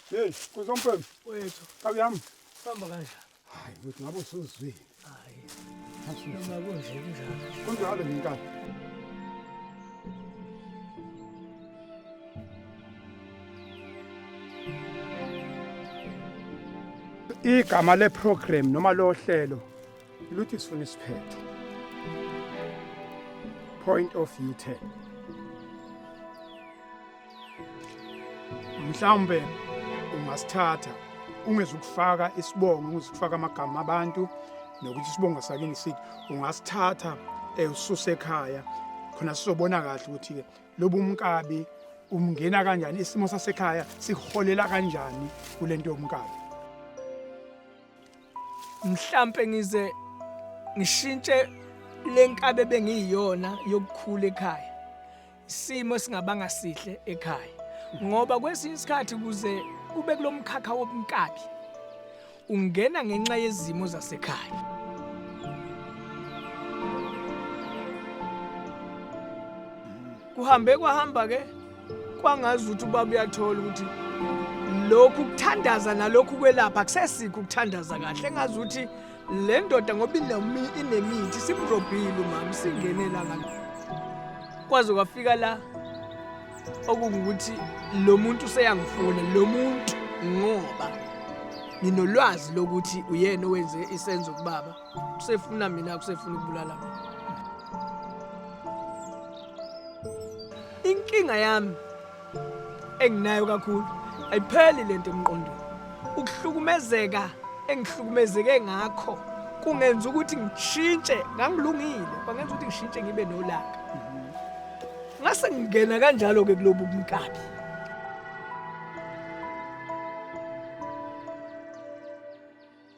Hey, kuzompembe. Wethu. Kabi yami. Sihamba kanjani? Hayi, wethu ngabe usuzwile. Hayi. Noma kunje kunjalo. Kunjalo ngenkani. Igama leprogram noma lohlelo Luthi sifuna isiphetho. Point of view 10. Mhlawumbe ungasithatha ungezukufaka isibongo ungezukufaka amagama abantu nokuthi isibongo sakini sithi ungasithatha eh, ususe ekhaya khona sizobona kahle ukuthi ke lobu umkabi umngena kanjani isimo sasekhaya siholela kanjani kulento yomkabi mhlampe ngize ngishintshe lenkabe bengiyiyona yokukhula ekhaya isimo singabanga sihle ekhaya ngoba kwesinye isikhathi kuze ube kulomkhakha wobunkabi ungena ngenxa yezimo zasekhaya kuhambe kwahamba ke kwangazi ukuthi ubaba uyathola ukuthi lokhu kuthandaza nalokhu kwelapha kusesikho ukuthandaza kahle engazi ukuthi le ndoda ngoba inemithi simrobhile umama singene la kwaze kwafika la okungukuthi lo muntu useyangifuna lo muntu ngoba nginolwazi lokuthi uyena owenze isenzo kubaba kusefuna mina kusefuna ukubulala mina inkinga yami enginayo kakhulu ayipheli lento emqondweni ukuhlukumezeka engihlukumezeke ngakho kungenza ukuthi ngishintshe ngangilungile kwangenza ukuthi ngishintshe ngibe nolaka ngase ngingena kanjalo ke kulobu kumkabi